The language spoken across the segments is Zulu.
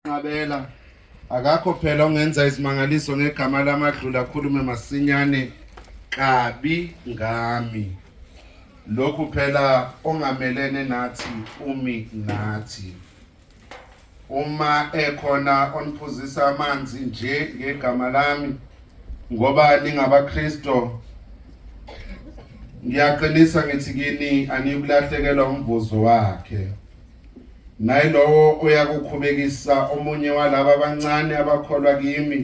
Nqabela akakho phela ongenza izimangaliso ngegama lamadlula akhulume masinyane kabi ngami lokhu phela ongamelene nathi umi nathi uma ekhona oniphuzisa amanzi nje ngegama lami ngoba ningabaKristo ngiyaqinisa ngithi kini aniyukulahlekelwa umvuzo wakhe nayilowo oyakukhubekisa omunye walaba abancane abakholwa kimi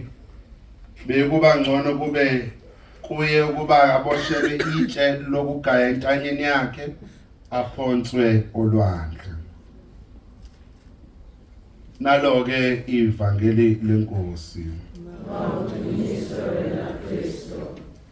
bekuba ngcono kube kuye ukuba aboshelwe itshe lokugaya entanyeni yakhe aphonswe olwandle naloke ivangeli lenkosi Mawudunyiswe wena Kristu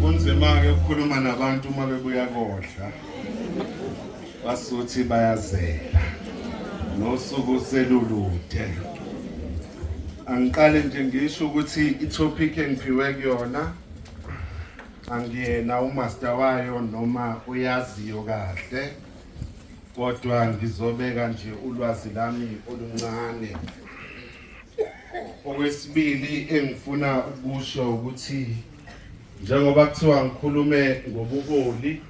kunzima-ke ukukhuluma nabantu uma bebuya kodla basuthi bayazela nosuku selulude angiqale nje ngisho ukuthi itopic engiphiwe kuyona angiyena umaster wayo noma uyaziyo kahle kodwa ngizobeka nje ulwazi lami oluncane Okwesibili engifuna ukusho ukuthi njengoba kuthiwa ngikhulume ngobuholi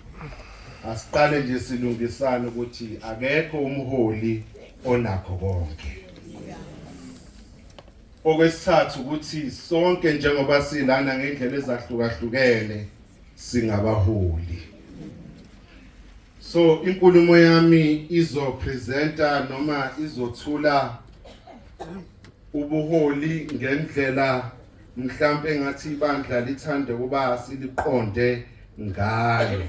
asiqale nje silungisane ukuthi akekho umholi onakho konke okwesithathu ukuthi sonke njengoba silana ngendlela ezahlukahlukene singabaholi so inkulumo yami izo presenter noma izothula ubuholi ngendlela mhlambe ngathi ibandla lithande kuba siliqonde ngayo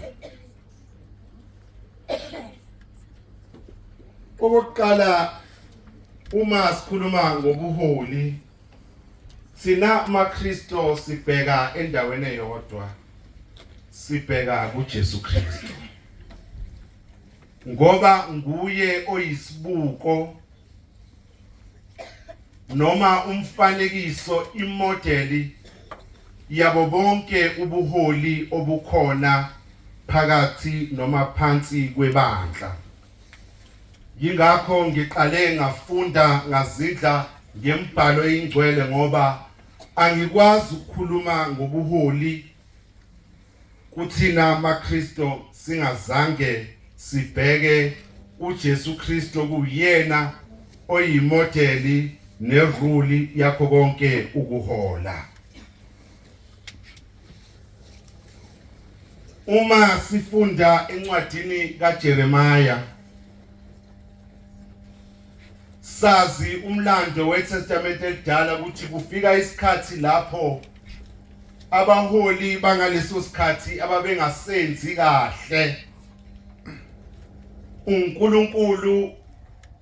okokuqala uma sikhuluma ngobuholi Sina maKristo sibheka endaweni eyodwa. Sibheka kuJesu Kristo. Ngoba nguye oyisibuko noma umfanekiso imodeli yabo bonke ubuholi obukhona phakathi noma phansi kwebandla. Yingakho ngiqale ngafunda ngazidla ngembhalo eyingcwele ngoba angikwazi ukukhuluma ngobuholi kuthina maKristo singazange sibheke uJesu Kristo kuyena oyimodeli neruli yakho konke ukuhola Uma sifunda encwadini kaJeremiah sazi umlando weTestament elidala ukuthi kufika isikhathi lapho abaholi bangaleso sikhathi ababengasenzi kahle uNkulunkulu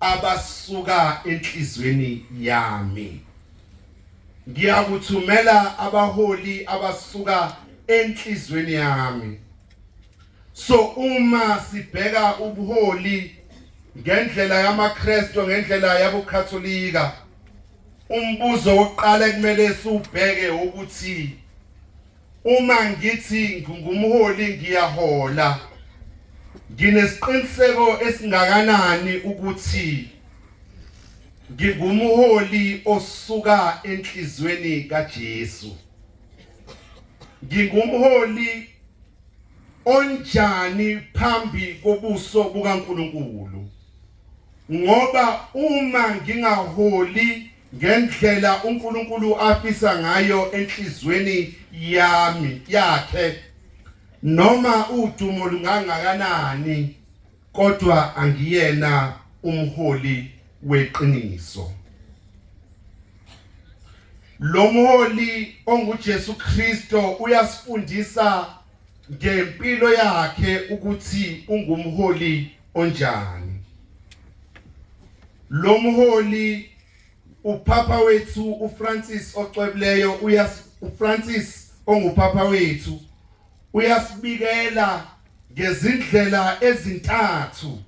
abasuka enhlizweni yami ngiyakuthumela abaholi abasuka enhlizweni yami so uma sibheka ubuholi ngendlela yamaKristu ngendlela yabuKatholika umbuzo wokuqala ekumele siwubheke ukuthi Uma ngithi ngingumholi ngiyahola. Nginesiqiniseko esingakanani ukuthi ngingumholi osuka enhlizweni kaJesu. Ngingumholi onjani phambi kobuso bukaNkuluNkulu. Ngoba uma ngingaholi ngendlela uNkulunkulu afisa ngayo enhlizweni yami yakhe noma udumo lungangakanani kodwa angiyena umholi weqiniso lo mholi onguJesu Kristo uyasifundisa ngempilo yakhe ukuthi ungumholi onjani lo mholi uphapha wethu uFrancis ocwebileyo uyas uFrancis onguphapha wethu uyasibikela ngezindlela ezintathu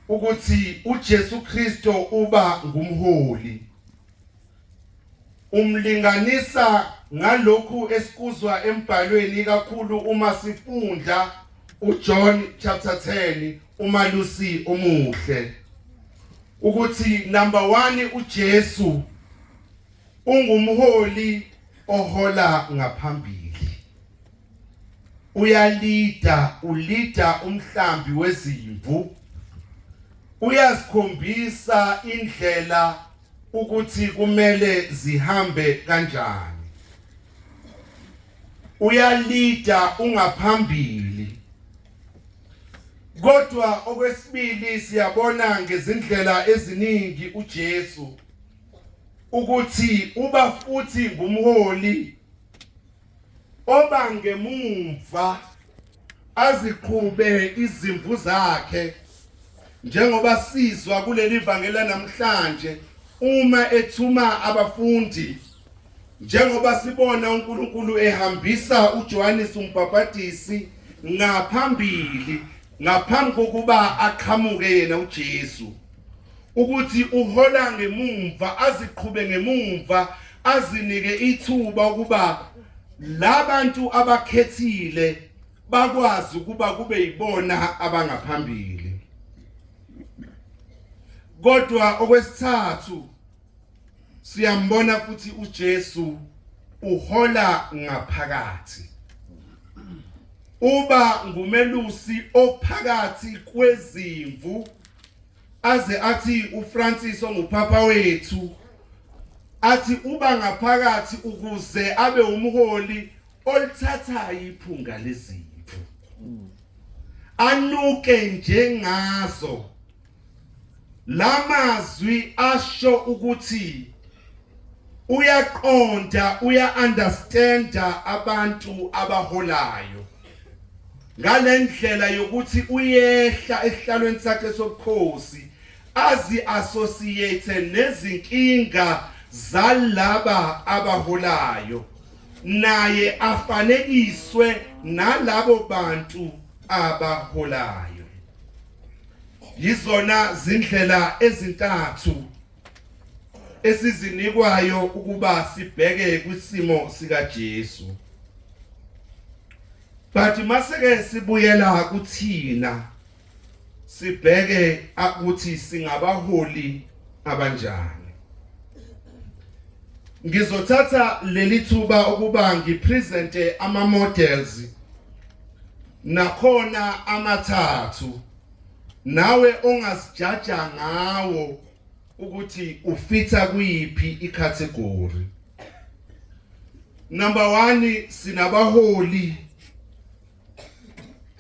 ukuthi uJesu Kristo uba ngumholi Umlinganisa ngalokhu esikuzwa embhalweni ikakhulu uma sifunda uJohn chapter 10 umalusi omuhle ukuthi number 1 uJesu ungumholi ohola ngaphambili uyalida ulida umhlambi wezimvu uyasikhombisa indlela ukuthi kumele zihambe kanjani uyalida ungaphambili kodwa okwesibili siyabona ngezindlela eziningi uJesu ukuthi uba futhi ngumholi obangemumva aziqhube izimvu zakhe njengoba sizwa kuleli vangela namhlanje uma ethuma abafundi njengoba sibona uNkulunkulu ehambisa uJohannes umbhabhadisi ngaphambili ngaphambi kokuba aqhamuke yena uJesu ukuthi uhola ngemumva aziqhube ngemumva azinike ithuba ukuba labantu abakhethile bakwazi ukuba kube yibona abangaphambili kodwa okwesithathu siyambona futhi uJesu uhola ngaphakathi uba ngumelusi ophakathi kwezimvu aze athi uFrancis ongupapa wethu athi uba ngaphakathi ukuze abe umholi olithathayo iphunga lezimvu anuke njengazo lamazwi asho ukuthi uyaqonda uya understanda abantu abaholayo ngalendlela yokuthi uyehla esihlalweni sakhe sobukhosi azi associate nezinkinga zalaba abaholayo naye afanekiswe nalabo bantu abaholayo yizona zindlela ezintathu esizinikwayo ukuba sibheke kwisimo sikaJesu but maseke sibuyela kuthina sibheke ukuthi singabaholi abanjani ngizothatha leli thuba ukuba ngipresente ama models nakhona amathathu nawe ongazijaja ngawo ukuthi ufitha kuyiphi icategory number 1 sinabaholi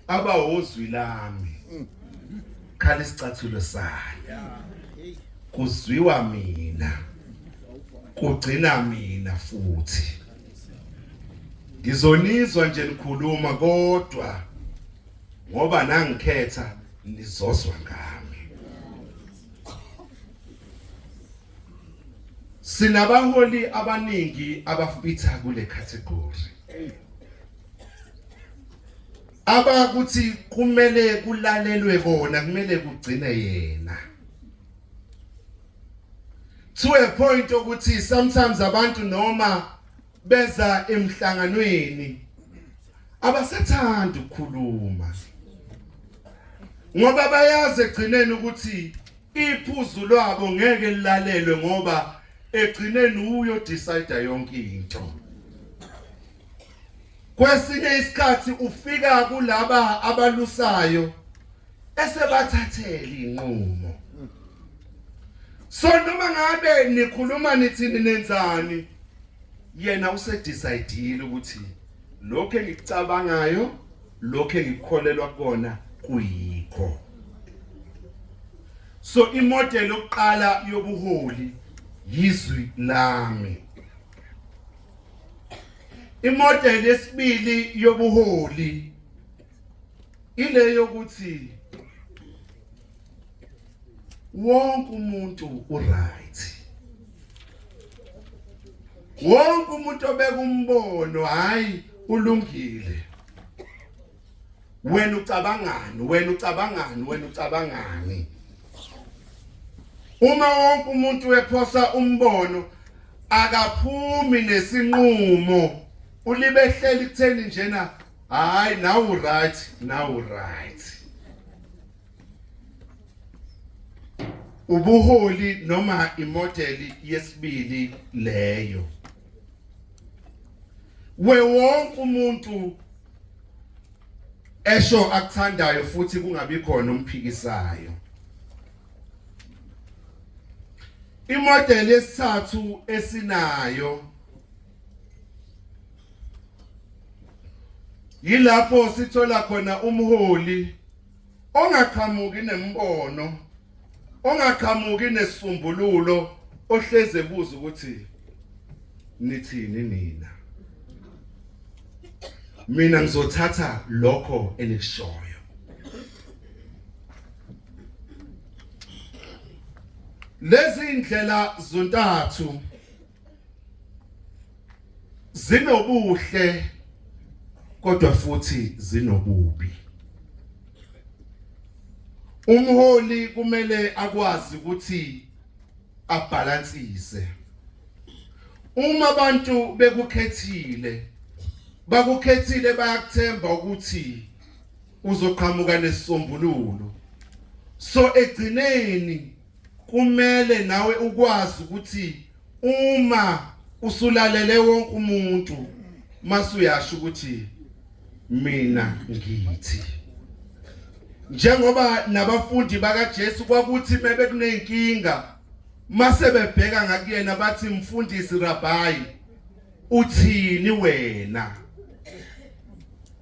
abahozwi lami khala isicathulo sami kuzwiwa mina kugcina mina futhi ngizonizwa nje nikhuluma kodwa ngoba nangikhetha nizozwa ngami Sinabaholi abaningi abafitha kule category. Abakuthi kumele kulalelwe bona kumele kugcine yena. To a point ukuthi sometimes abantu noma beza emhlanganweni abasathandi ukukhuluma ngoba bayazi egcineni ukuthi iphuzu lwabo ngeke lilalelwe ngoba egcineni uyo decide yonke into kwesinye isikhathi ufika kulaba abalusayo esebathathele inqumo so noma ngabe nikhuluma nithini nenzani yena usedecide ukuthi lokho engikucabangayo lokho engikukholelwa kona kuyikho so imodel yokuqala yobuholi yizwi lami imodel yesibili yobuholi ile yokuthi wonke umuntu uright wonke umuntu obeka umbono hayi ulungile wena ucabangani wena ucabangani wena ucabangani uma wonke umuntu wephosa umbono akaphumi nesinqumo ulibehleli kutheni njena hayi nawu right nawu right ubuholi noma imodeli yesibili leyo we wonke umuntu esho akuthandayo futhi kungabi khona umphikisayo imodeli yesithathu esinayo yilapho sithola khona umholi ongaqhamuki nembono ongaqhamuki nesisombululo ohleze ebuza ukuthi nithini nina mina ngizothatha lokho enikushoyo lezi indlela zontathu zinobuhle kodwa futhi zinobubi umholi kumele akwazi ukuthi abhalansise uma abantu bekukhethile bakukhethile bayakuthemba ukuthi uzoqhamuka nesisombululo so egcineni Kumele nawe ukwazi ukuthi uma usulalele wonke umuntu masuyasho ukuthi mina ngithi njengoba nabafundi bakaJesu kwakuthi bebekunenkinga mase bebheka ngakuyena bathi mfundisi rabbi uthini wena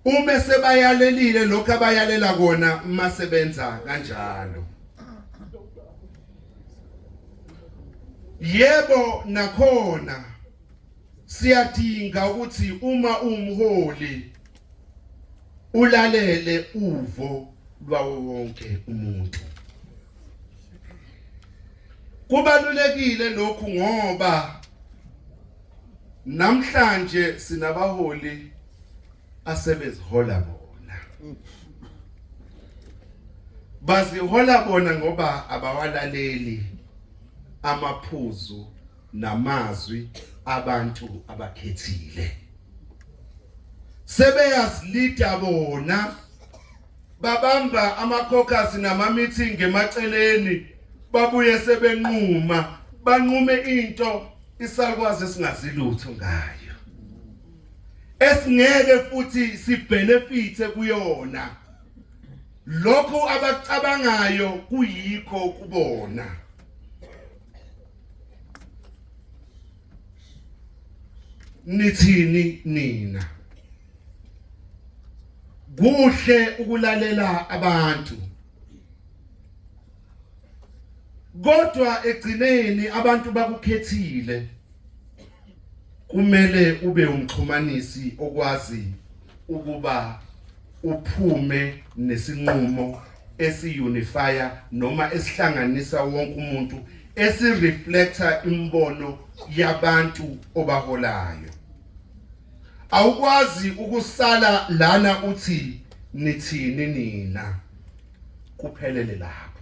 Uma sebayalelile lokho abayalela kona uma sebenza kanjalo. Yebo nakhona siyadinga ukuthi uma umholi ulalele uvo lwawo wonke umuntu kubalulekile lokhu ngoba namhlanje sinabaholi asebezihola bona bazihola bona ngoba abawalaleli amaphuzu namazwi abantu abakhethile sebeyazilida bona babamba amakhokhasi nama-meeting emaceleni babuye sebenquma banqume into isalukwazi esingazilutho ngayo esingeke futhi sibenefithe kuyona lokho abacabangayo kuyikho kubona nithini nina kuhle ukulalela abantu kodwa egcineni abantu bakukhethile kumele ube umxhumanisi okwazi ukuba uphume nesinqumo esiunifier noma esihlanganisa wonke umuntu esireflector imbono yabantu obaholayo awukwazi ukusala lana uthi nithini nina kuphelele lapho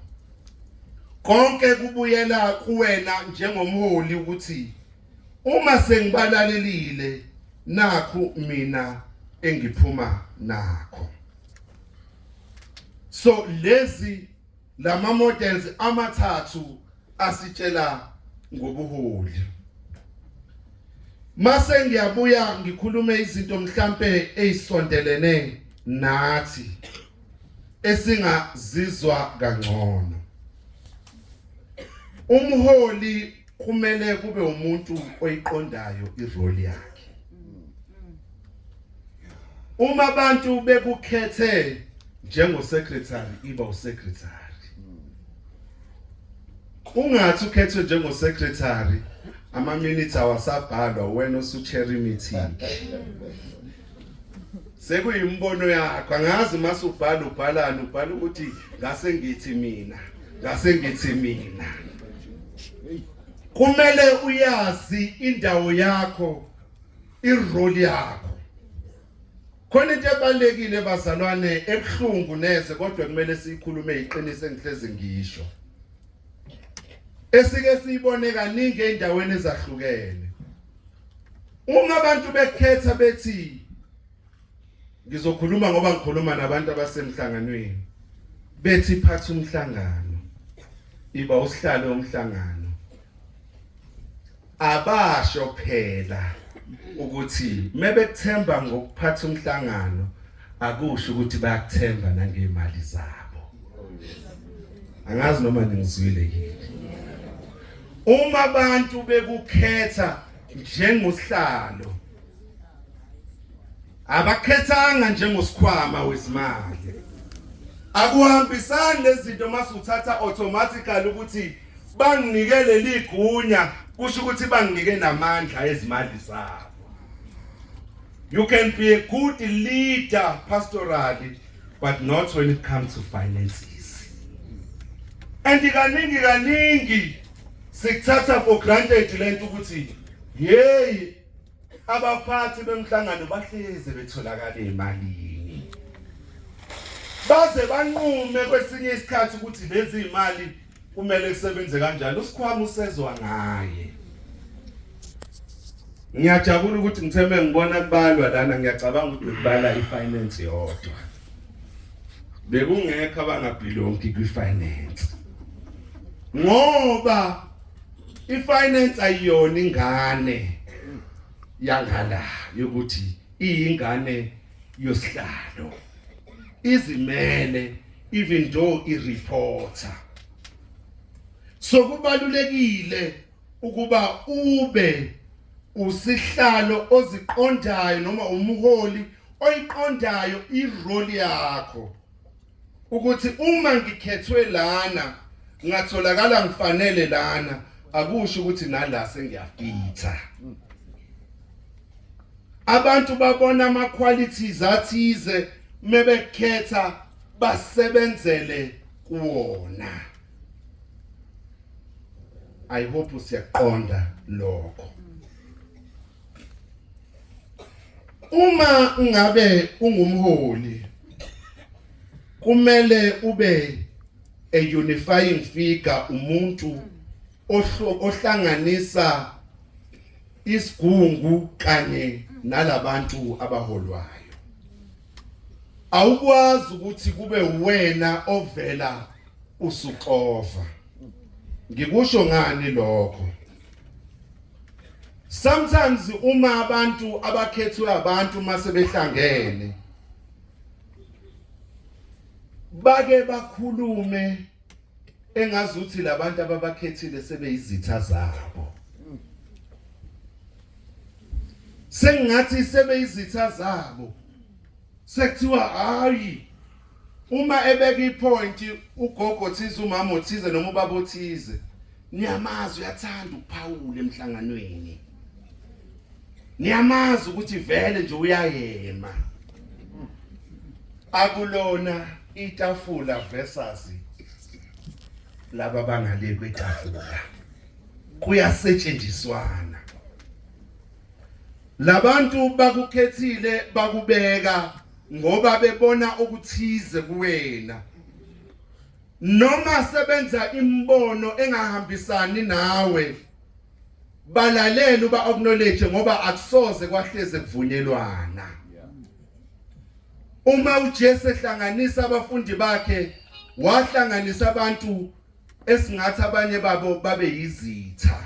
konke kubuyela kuwena njengomholi ukuthi uma sengibalalelile nakhu mina engiphuma nakho so lezi lama models amathathu asitshela ngobuholi mase ngiyabuya ngikhulume izinto mhlambe ezisondelene nathi esingazizwa kangcono umholi kumele kube umuntu oyiqondayo irole yakhe uma abantu bekukhethe njengo secretary iba u secretary ungathi ukhethwe njengo secretary ama minutes awasabhalwa wena osuchair meeting sekuyimbono yakho angazi mase ubhala ubhalani ubhala ukuthi ngase ngithi mina ngase ngithi mina kumele uyazi indawo yakho irole yakho khona into ebalekile bazalwane ebuhlungu neze kodwa kumele siyikhulume iqiniso engihlezi ngisho esike siyibone kaningi endaweni ezahlukene uma abantu bekhetha bethi ngizokhuluma ngoba ngikhuluma nabantu abasemhlanganweni bethi phatha umhlangano iba usihlalo omhlangano abasho phela ukuthi mebekuthemba ngokuphatha umhlangano akusho ukuthi bayakuthemba nangemali zabo angazi noma ningizwile yini uma abantu bekukhetha njengosihlalo abakhethanga njengosikhwama wezimali akuhambisani lezinto masuthatha automatically ukuthi banginike leli gunya kusho ukuthi banginike namandla ezimali zabo you can be a good leader pastorally but not when it comes to finances and kaningi kaningi sikuthatha for granted lento ukuthi hey abaphathi bemhlangano bahleze betholakala emalini baze banqume kwesinye isikhathi ukuthi lezi imali kumele kusebenze kanjani usikhwama usezwa ngaye ngiyajabula ukuthi ngitheme ngibona kubalwa lana ngiyacabanga ukuthi kubala ifinance yodwa bekungekho abangabhilongi kwifinance ngoba ifinance ayiyona ingane yangala yokuthi iyingane yosihlalo izimele even though i reporter so kubalulekile ukuba ube usihlalo oziqondayo noma umholi oyiqondayo irole yakho ukuthi uma ngikhethwe lana ngatholakala ngifanele lana akusho ukuthi nala sengiyafitha abantu babona ama qualities athize mebekhetha basebenzele kuwona i hope usiyaqonda lokho uma ngabe ungumholi kumele ube a unifying figure umuntu ohlanganisa isigungu kanye nalabantu abaholwayo awukwazi ukuthi kube uwena ovela usuxova ngikusho ngani lokho sometimes uma abantu abakhethwe abantu mase behlangene bake bakhulume engazi ukuthi labantu ababakhethile sebeyizitha zabo sengathi sebeyizitha zabo sekuthiwa hayi uma ebeka ipoint ugogo thize umama othize noma ubaba othize niyamazi uyathanda ukuphawula emhlanganweni niyamazi ukuthi vele nje uyayema akulona itafula versus laba bangale kwetafula kuyasetshenziswana labantu bakukhethile bakubeka ngoba bebona okuthize kuwena noma sebenza imbono engahambisani nawe balalela uba acknowledge ngoba akusoze kwahleze kuvunyelwana uma uJesu ehlanganisa abafundi bakhe wahlanganisa abantu esingathi abanye babo babe yizitha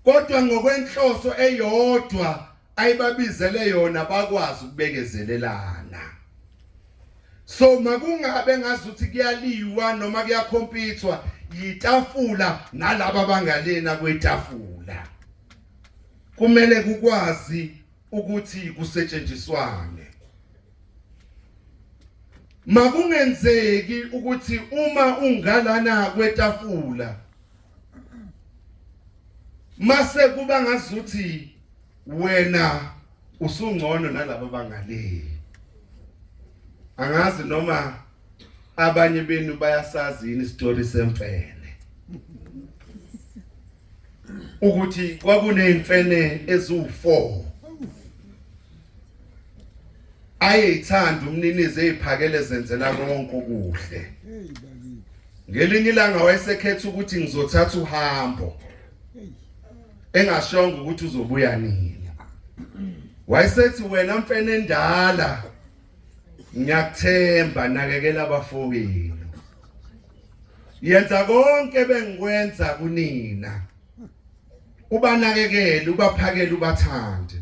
kodwa ngokwenhloso eyodwa ayibabizele yona bakwazi ukubekezelelana so makungabe ngazuthi kuyaliwa noma kuyakhompithwa yitafula nalabo abangalena kwetafula kumele kukwazi ukuthi kusetshenziswane makungenzeki ukuthi uma ungalana kwetafula mase kuba ngazuthi wena usungcono nalabo bangale angazi noma abanye benu bayasazi yini story semfene ukuthi kwakunezimfene eziwu4 ayeyithanda umninizi eziphakele zenzela konke okuhle ngelinye ilanga wayesekhetha ukuthi ngizothatha uhambo engashongo ukuthi uzobuya nini wayesethi wena mfene endala ngiyakuthemba nakekela abafowenu yenza konke bengikwenza kunina ubanakekele ubaphakele ubathande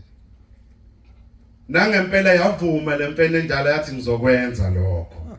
nangempela yavuma lemfene endala yathi ngizokwenza lokho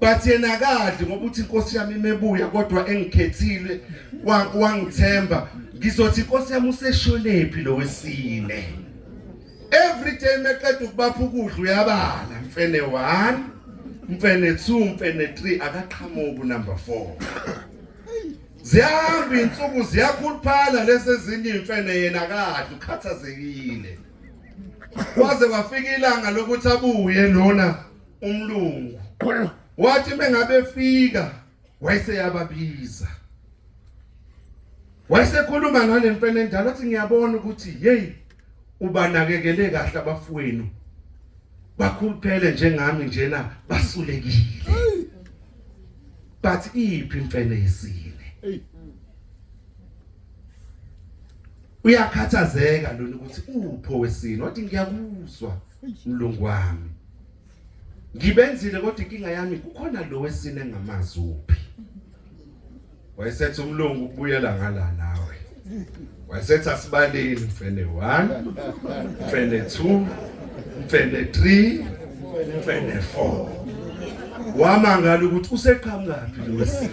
but yena akadli ngoba uthi inkosi yami imebuya kodwa engikhethile wangithemba ngizothi inkosi yami usesholephi lo wesine every day meqeda ukubapha ukudla uyabala mfene 1 mfene 2 mfene 3 akaqhamuki number 4 ziyahamba insuku ziyakhuluphala lesezinye imfene yena kadla ukhathazekile kwaze kwafika ilanga lokuthi abuye lona umlungu wathi bengabefika wayeseyababiza wayesekhuluma ngale mfene endala athi ngiyabona ukuthi hey ubanakekele kahle abafowenu bakhuluphele njengami njena basulekile but iphi imfene yesine uyakhathazeka lona ukuthi upho wesini wathi ngiyakuzwa mlungu wami ngibenzile kodwa inkinga yami kukhona lo wesine ngamazi uphi wayesethi umlungu ubuyela ngala nawe wayesethi asibaleni mfene 1 mfene 2 mfene 3 mfene 4 wamangala ukuthi useqhamukaphi lo wesine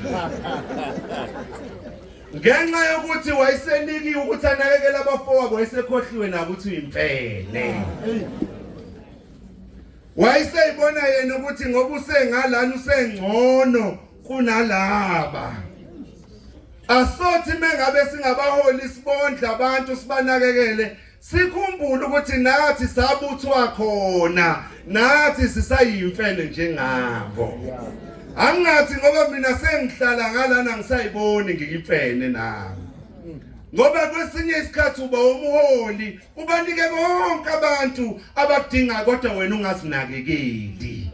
ngenxa yokuthi wayesenikiwe ukuthi anakekele abafowabo wayesekhohliwe nakuthi uyimfene wayeseyibona yena ukuthi ngoba usengalana usengcono kunalaba asothi mengabe singabaholi sibondla abantu sibanakekele sikhumbule ukuthi nathi sabuthwa khona nathi sisayimfene njengabo angathi ngoba mina sengihlala ngalana ngisayiboni ngiyimfene nami ngoba kwesinye isikhathi uba umholi ubanike konke abantu abakudingayo kodwa wena ungazinakekeli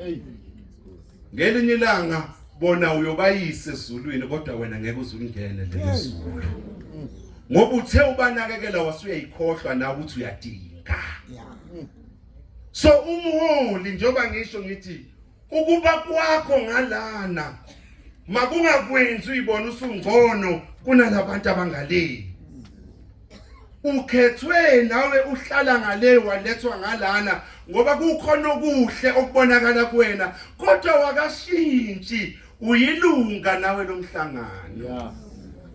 ngelinye ilanga bona uyobayise ezulwini kodwa wena ngeke uzulingene lezulu ngoba uthe ubanakekela wasuyayikhohlwa nawe ukuthi uyadinga so umholi njengoba ngisho ngithi ukuba kwakho ngalana makungakwenzi uyibona usungcono kunalabantu abangaleli ukhethwe nawe uhlala ngale walethwa ngalana ngoba kukhona okuhle okubonakala kuwena kodwa wakashintshi uyilunga nawe lomhlangano yeah.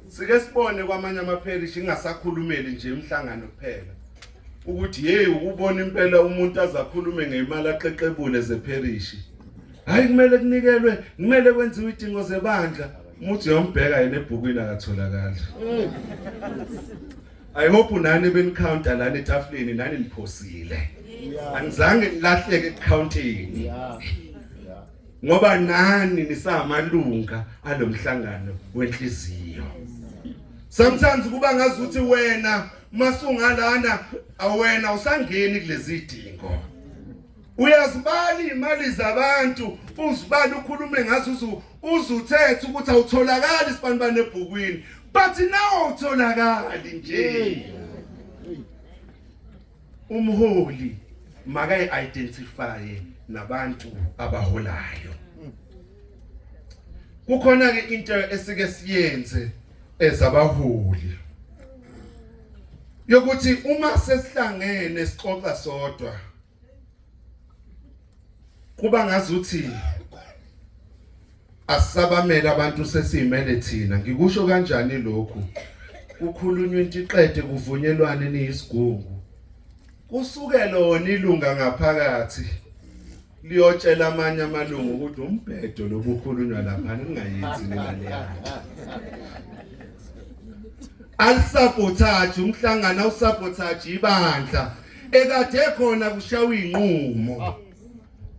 sike sibone kwamanye amapherishi ingasakhulumeli nje umhlangano kuphela ukuthi hey ukubona impela umuntu azakhulume ngemali aqeqebule zepherishi hayi kumele kunikelwe kumele kwenziwe idingo zebandla umuthi yombheka yena ebhukwini akatholakali i hope nani benicounta lana etafuleni nani niphosile angizange nilahleke ekucountini ngoba nani nisamalunga alomhlangano wenhliziyo sometimes kuba ngazuthi wena masungalana awena usangeni kulezi dingo uyazibala imali zabantu uzibala ukhulume ngazo uzu uzuthethe ukuthi awutholakali isibanibane ebhukwini but nawo utholakali nje umholi makayi identify nabantu abaholayo kukhona ke into esike siyenze ezabaholi yokuthi uma sesihlangene sixoxa sodwa kuba ngazuthi asisabamele abantu sesimele thina ngikusho kanjani lokhu kukhulunywa into iqede kuvunyelwane niyisigungu kusukela wona ilunga ngaphakathi liyotshela amanye amalungu ukuthi umbhedo lobukhulunywa lapha ningayenzi nemali yakhe alisabotage umhlangano awusabotage ibandla ekade khona kushawa inqumo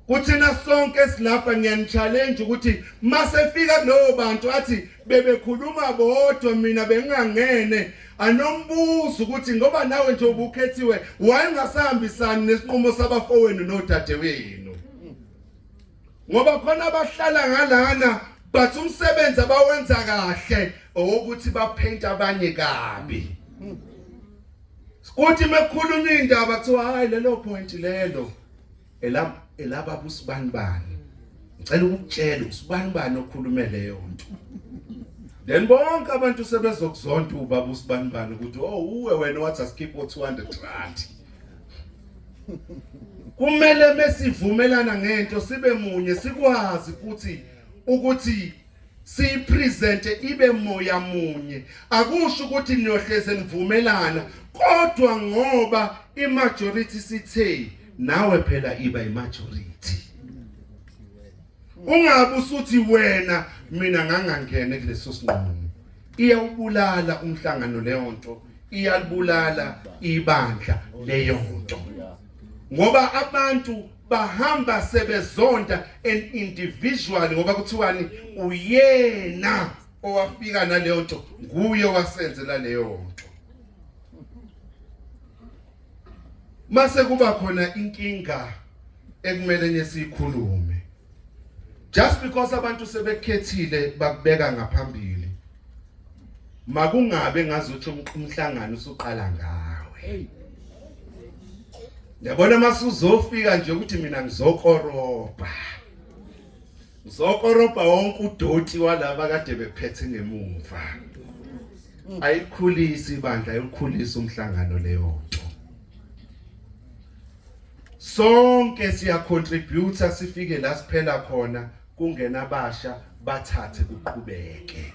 kuthina sonke silapha ngiyanichallenge ukuthi masefika kulowo bantu athi bebekhuluma bodwa mina bengangene anombuzo ukuthi ngoba nawe nje ubukhethiwe wayengasahambisani nesinqumo sabafowenu nodadewenu ngoba khona abahlala ngalana but umsebenzi abawenza kahle owokuthi baphente abanye kabi kuthi mekhuluma indaba kuthiwa hayi lelo point lelo Elab elaba busibanibani. Ngicela ukukutshela usibani bani okhulume leyo nto. Then bonke abantu sebezokuzonda ubaba usibani bani ukuthi oh uwe wena wathi asikhiphe 200 rand. Kumele mesivumelana ngento sibe munye sikwazi ukuthi ukuthi siyipresente ibe moya munye akusho ukuthi niyohleze nivumelana kodwa ngoba imajority sithe nawe phela iba imajority ungabe usuthi wena mina ngangangene kuleso sinqumo iyawubulala umhlangano leyo nto iyalibulala ibandla leyo nto ngoba abantu bahamba sebezonda an individual ngoba kuthiwani uyena owafika naleyo nto nguye wasenzela leyo nto mase kuba khona inkinga ekumele nesikhulume just because abantu sebekhethile bakubeka ngaphambili makungabe ngazuthi umhlangano usuqala ngawe yabona masuzofika nje ukuthi mina ngizokoroba ngizokoroba wonke udoti walaba kade bephethe ngemumva ayikhulisi ibandla ayikhulisa umhlangano leyo nto sonke siya contributor sifike la siphela khona kungena abasha bathathe kuqhubeke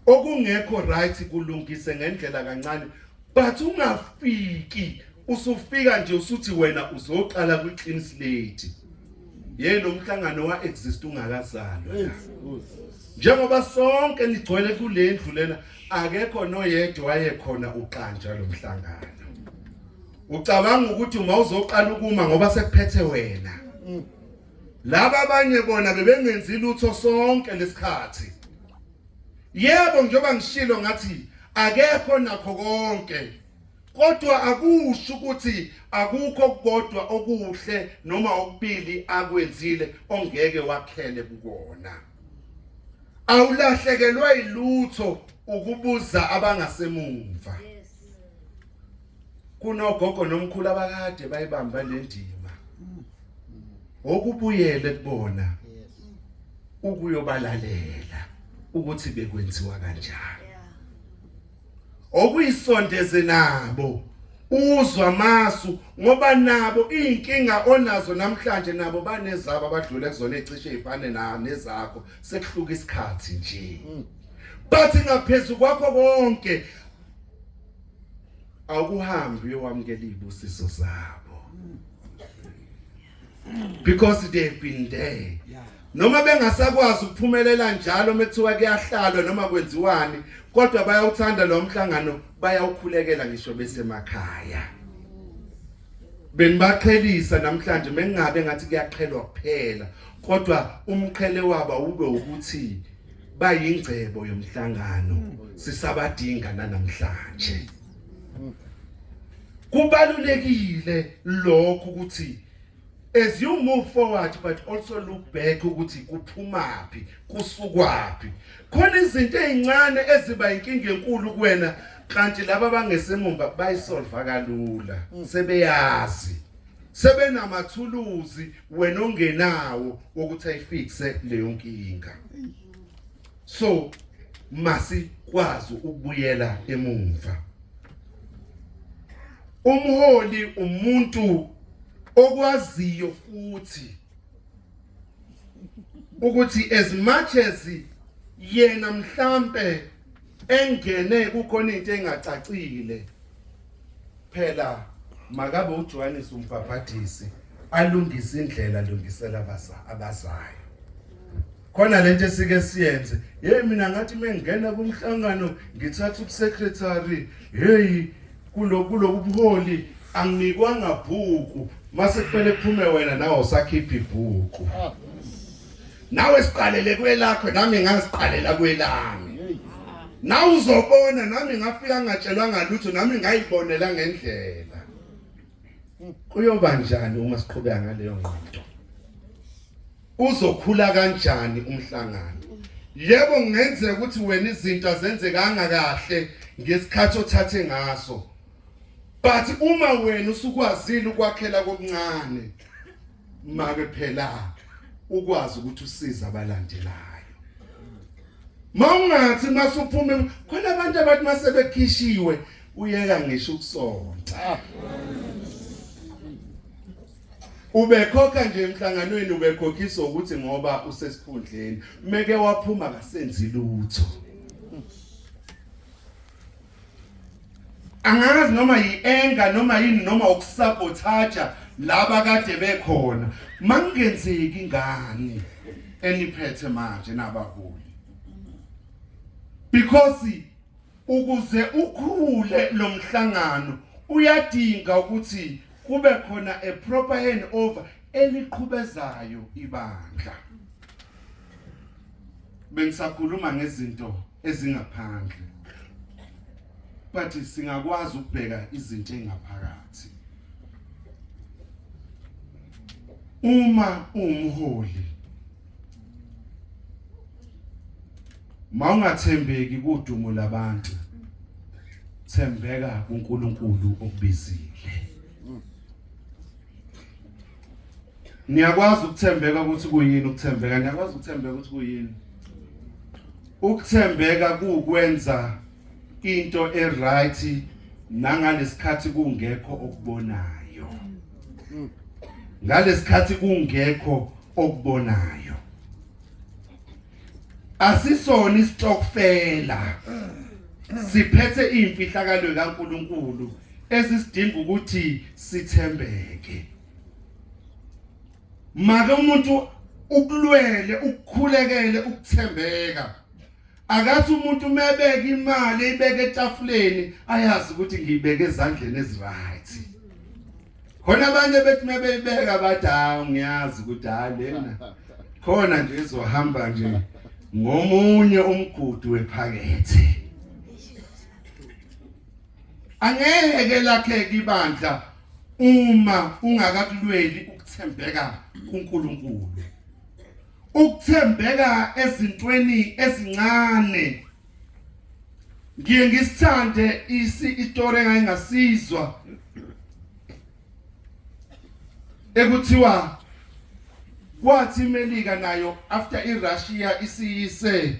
okungekho right kulungise ngendlela kancane but ungafiki usufika nje usuthi wena uzoqala kwi clean slate yena umhlangano wa exist ungakazalwa njengoba sonke nigcwele kulendlu lena akekho noyedwa wayekhona uqanja lo mhlangano ucabanga ukuthi uma uzoqala ukuma ngoba sekuphethe wena mm. laba abanye bona bebengenzi lutho sonke lesikhathi yebo njengoba ngishilo ngathi akekho nakho konke kodwa akusho ukuthi akukho kodwa okuhle noma okubili akwenzile ongeke wakhele kukona awulahlekelwa ilutho ukubuza abangasemumva kunogogo nomkhulu abakade bayibamba lendima okubuyele kubona ukuyobalalela ukuthi bekwenziwa kanjani okuyisondeze nabo uzwa masu ngoba nabo izinkinga onazo namhlanje nabo banezabo abadlule kuzona ecishe ifane na nezakho sekuhluka isikhathi nje mm. bathi ngaphezulu kwakho konke awukuhambi uyowamukela izibusiso zabo because they've been there noma bengasakwazi ukuphumelela njalo methiwa kuyahlalwa noma kwenziwani kodwa bayawuthanda lo mhlangano bayawukhulekela ngisho besemakhaya benibaqhelisa namhlanje mengabe ngathi kuyaqhelwa kuphela kodwa umqhele waba ube ukuthi bayingcebo yomhlangano sisabadinga nanamhlanje kubalulekile lokho ukuthi as you move forward but also look back ukuthi kuphumaphi kusukwaphi khona izinto ezincane eziba inkinga enkulu kuwena kanti laba bangesemumba bayisolva kalula sebeyazi sebenamathuluzi wena ongenawo ukuthi ayifixe leyo nkinga so masikwazi ukubuyela emumva umholi umuntu okwaziyo futhi ukuthi as much as yena mhlambe engene kukhona into engacacile phela makabe uJohannes umbhabhadisi alungise indlela lungisela abazayo khona lento esike siyenze hey mina ngathi mengena kumhlangano ngithatha ubusecretary hey kuloku lokubuholi anginikwanga bhuku mase kumele kuphume wena nawe usakhipha ibhuku nawe siqalele kwelakho nami ngaziqalela kwelami nawe uzobona nami ngafika ngatshelwanga lutho nami ngayibonela ngendlela kuyoba njani uma siqhubeka ngaleyo ngqondo uzokhula kanjani umhlangano yebo kungenzeka ukuthi wena izinto azenzekanga kahle ngesikhathi othathe ngaso but uma wena usukwazile ukwakhela kokuncane make phela ukwazi ukuthi usiza abalandelayo mawungathi masuphuma khona abantu abathi masebekhishiwe uyeka ngisho ukusonta ubekhokha nje emhlanganweni ubekhokhisa ukuthi ngoba usesikhundleni meke waphuma kasenzi lutho angazi noma yi-enga noma yini noma ukusabothaja laba kade bekhona makungenzeki ngani eniphethe manje nabaholi because ukuze ukhule lomhlangano uyadinga ukuthi kube khona a proper handover eliqhubezayo ibandla bengisakhuluma ngezinto ezingaphandle but singakwazi ukubheka izinto engaphakathi uma umholi mawungathembeki kudumo labantu thembeka kuNkulunkulu okubizile Niyakwazi ukuthembeka ukuthi kuyini ukuthembeka? Niyakwazi ukuthembeka ukuthi kuyini? Ukuthembeka kuwukwenza into eright nangalesikhathi kungekho okubonayo. Ngalesikhathi kungekho okubonayo. asisona isitokfela siphethe imfihlakalo kaNkuluNkulu esisidinga ukuthi sithembeke make umuntu ukulwele ukukhulekele ukuthembeka akathi umuntu umebeka imali ibeke etafuleni ayazi ukuthi ngiyibeke ezandleni eziright khona abanye bethi mebeyibeka bathi hawu ngiyazi ukuthi hayi lena khona nje izohamba nje ngomunye umgudu wephakethe angeke lakheke ibandla uma ungakakulweli ukuthembeka kuNkulunkulu ukuthembeka ezintweni ezincane ngiye ngisithande isi istory engayingasizwa ekuthiwa kwathi iMelika nayo after iRussia isiyise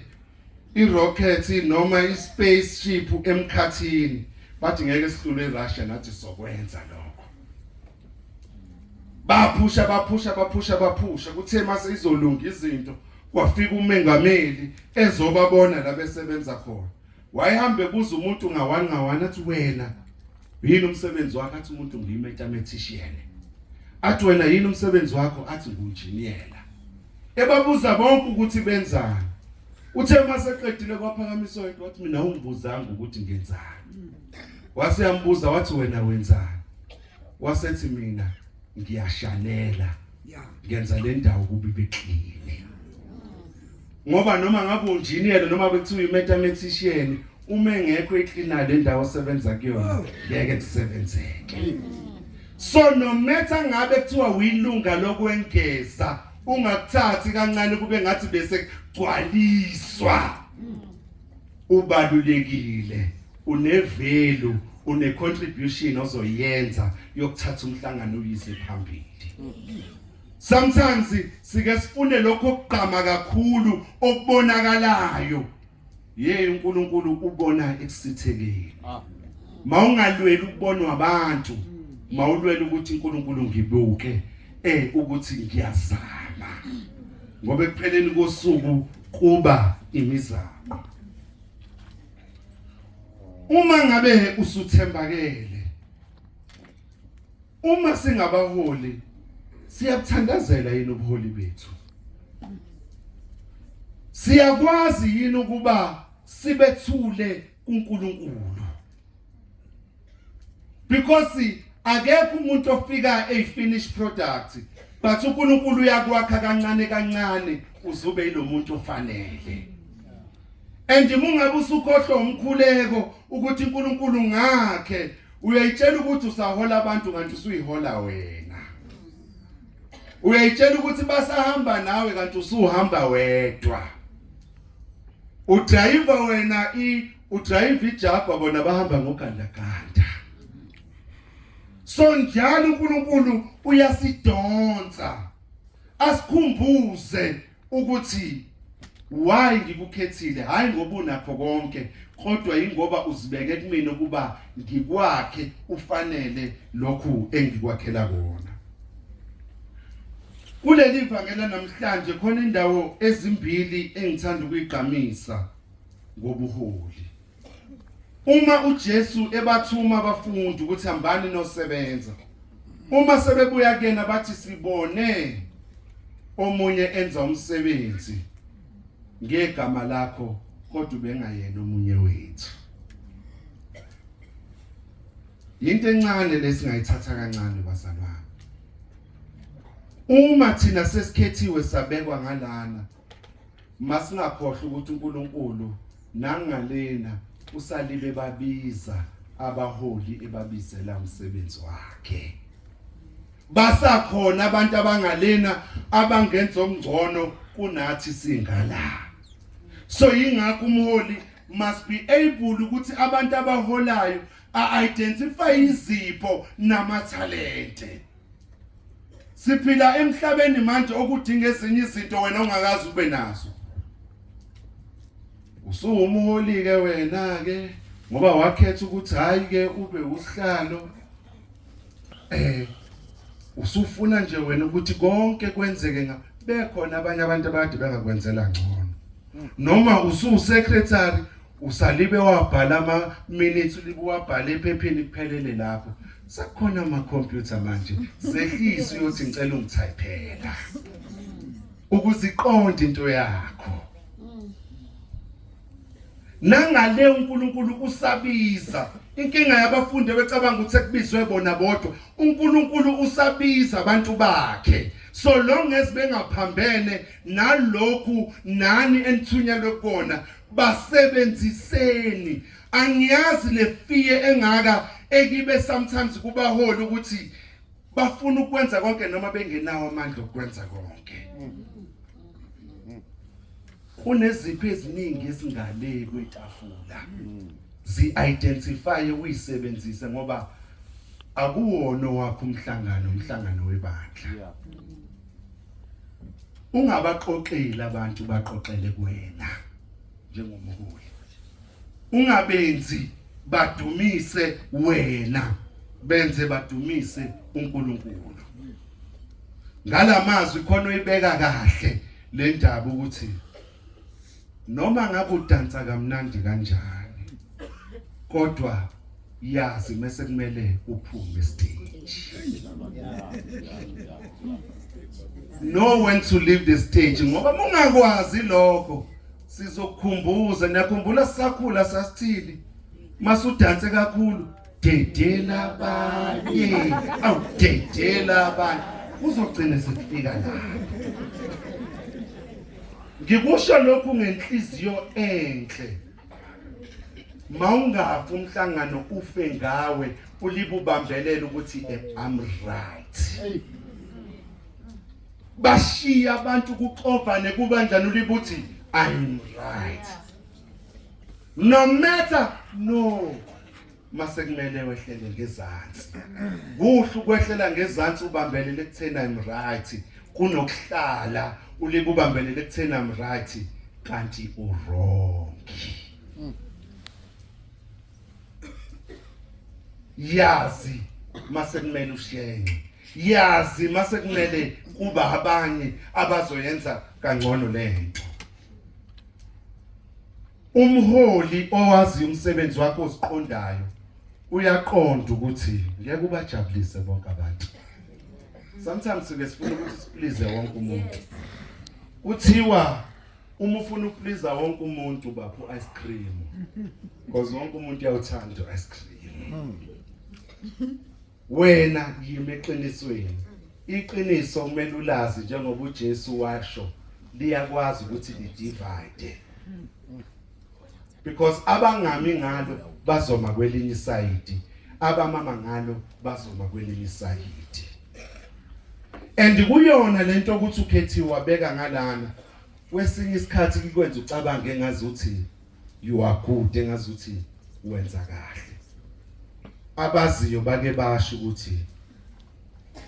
irocket noma ispaceship emkhathini bathi ngeke sihlule iRussia nathi sokwenza lokho baphusha baphusha baphusha baphusha kuthe mase izolunga izinto kwafika umengameli ezobabona la besebenza khona wayehambe buza umuntu ngawani ngawani athi wena yini umsebenzi wakho athi umuntu ngiyimetametishiyene athi wena yini umsebenzi wakho athi ngunjiniyela ebabuza bonke ukuthi benzani uthe maseqedile kwaphakamiswa yedwa wathi mina ungibuzanga ukuthi ngenzani waseyambuza wathi wena wenzani wasethi mina ngiyashanela ngenza le ndawo kubi beklini ngoba noma ngabe unjiniyela noma bekuthiwa imathematician uma engekho eklina le ndawo osebenza kuyona ngeke kusebenzeke so no matter ngabe kuthiwa uyilunga lokwengeza ungakuthathi kancane kube ngathi bese kugcwaliswa ubalulekile unevelu une contribution ozoyenza yokuthatha umhlangano uyise phambili sometimes sike sifune lokho kugqama kakhulu okubonakalayo ye uNkulunkulu ubona ekusithekeni ah. mawungalweli ukubonwa abantu mawulwela ukuthi uNkulunkulu ngibuke eh ukuthi ngiyazama ngoba ekupheleni kosuku kuba imizamo uma ngabe usuthembakele uma singabaholi siyabuthandazela yini ubuholi bethu siyakwazi yini ukuba sibethule kuNkulunkulu because akekho umuntu ofika a finished product but uNkulunkulu uyakwakha kancane kancane uzube ilomuntu ofanele and mungabe usukhohlwa umkhuleko ukuthi uNkulunkulu ngakhe uyayitshela ukuthi usahola abantu kanti usuyihola wena uyayitshela ukuthi basahamba nawe kanti usuhamba wedwa udrayiva wena i udrayiva ijagwa bona bahamba ngogandaganda so njalo uNkulunkulu uyasidonsa asikhumbuze ukuthi why ngikukhethile hayi ngoba unakho konke kodwa ingoba uzibeke kumina ukuba ngikwakhe ufanele lokhu engikwakhela kona kuleli vangela namhlanje khona indawo ezimbili engithanda ukuyigqamisa ngobuholi. Uma uJesu ebathuma abafundi ukuthi hambani nosebenza. Uma sebebuya kuyena bathi sibone omunye enza umsebenzi ngegama lakho kodwa ubengayena omunye wethu. Yinto encane lesingayithatha kancane bazalwane. Uma thina sesikhethiwe sabekwa ngalana Masingakhohlwa ukuthi uNkulunkulu nangalena usalibe babiza abaholi ebabizela umsebenzi wakhe. Basakhona abantu abangalena abangenza okungcono kunathi singala. So yingakho umholi must be able ukuthi abantu abaholayo a identify izipho namathalente. Siphila emhlabeni manje okudinga ezinye izinto wena ongakazi ube nazo. Usuwumholi ke wena ke ngoba wakhetha ukuthi hayi ke ube usihlalo eh usufuna nje wena ukuthi konke kwenzeke nga bekhona abanye abantu abade bengakwenzela ngcono noma usu secretary usalibe wabhala ama minutes ulibe wabhala ephepheni kuphelele lapho sekukhona ama computer manje sehlisa uyothi ngicela ungithayiphela ukuziqonda into yakho nangale uNkulunkulu usabiza inkinga yabafundi becabanga ukuthi ekubizwe bona bodwa uNkulunkulu usabiza abantu bakhe so long as bengaphambene nalokhu nani enithunyelwe kona basebenziseni angiyazi le fear engaka ekibe sometimes kubaholi ukuthi bafuna ukwenza konke noma bengenawo amandla okwenza konke kuneziphi eziningi ezingaleki kwetafula zi-identifye uyisebenzise ngoba akuwona wakho umhlangano umhlangano webandla ungabaqoqeli abantu baqoqele kuwena njengomholi ungabenzi badumise wena benze badumise uNkulunkulu ngalamazwi khona uyibeka kahle le ndaba ukuthi noma ngabe udansa kamnandi kanjani kodwa yazi mase kumele uphume stage know when to leave the stage ngoba mungakwazi lokho sizokukhumbuza niyakhumbula sisakhula sasithili masudanse kakhulu dedela abanye awu dedela abanye uzogcina sekufika lapho ngikusho lokhu ngenhliziyo enhle mawungafa umhlangano ufe ngawe ulibubambelela ukuthi I'm right bashiya abantu kuxovane kubanjani ulibuthi I'm right no matter no masekumele wehlele ngezansi kuhle ukwehlela ngezansi ubambelele ekutheni i'm right kunokuhlala ulike ubambelele ekutheni i'm right kanti uwrong yazi masekumele ushenxe yazi masekumele kuba abanye abazoyenza kangcono lento umholi owazi umsebenzi wakho osiqondayo uyaqonda ukuthi ngeke ubajabulise bonke abantu sometimes ke sifuna ukuthi siplize wonke umuntu kuthiwa uma ufuna ukupliza wonke umuntu bapho ice cream because wonke umuntu uyawuthanda ice cream wena yimi eqinisweni iqiniso kumele ulazi njengoba uJesu washo liyakwazi ukuthi lidivide because abangami ngalo bazoma kwelinye isayidi abamama ngalo bazoma kwelinye isayidi and kuyona lento ukuthi ukhethiwe wabeka ngalana kwesinye isikhathi kikwenza ucabange ngazi uthini you are good engazuthi wenza kahle abaziyo bake basho ukuthi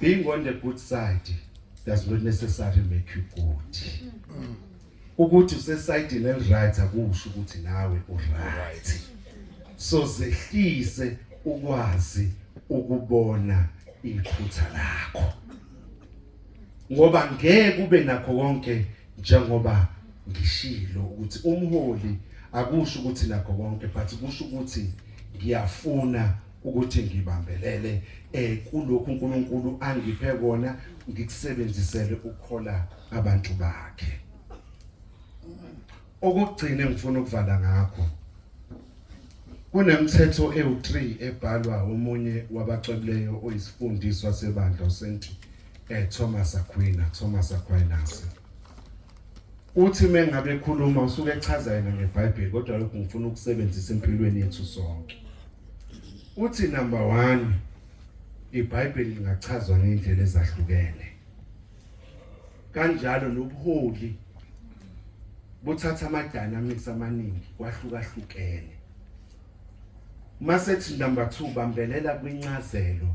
being on the good side does not necessarily make you good ukuthi usesayidini eliright akusho ukuthi nawe uright so zehlise ukwazi ukubona iphutha lakho ngoba ngeke ube nakho konke njengoba ngishilo ukuthi umholi akusho ukuthi nakho konke but kusho ukuthi ngiyafuna ukuthi ngibambelele eh kulokhu uNkulunkulu angiphe kona ngikusebenzisele ukukhola abantu bakhe Okugcina engifuna ukuvala ngakho kunemithetho ewu-3 ebhalwa omunye wabacwebileyo oyisifundiswa sebandla uSt eh, Thomas Aquinas, Thomas Aquinas. Uthi mengabe ekhuluma usuke echaza yena ngeBhayibheli kodwa lokhu ngifuna ukusebenzisa empilweni yethu sonke. Uthi number 1 iBhayibheli lingachazwa ngendlela ezahlukene. kanjalo nobuholi buthatha ama-dynamics amaningi kwahlukahlukene masethi number 2 bambelela kwincazelo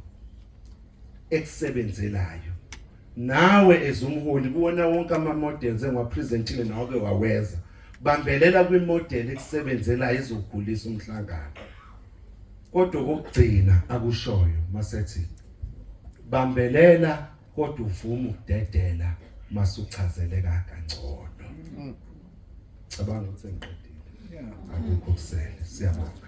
ekusebenzelayo nawe ezumholi kuwona wonke ama-models engiwapresentile nawake waweza bambelela kwimodeli ekusebenzelayo ezokhulisa umhlangano kodwa okugcina akushoyo masethi bambelela kodwa uvuma ukudedela masuchazeleka kangcono mm. cabanga ukuthi ngiqedile akukho kusele siyabonga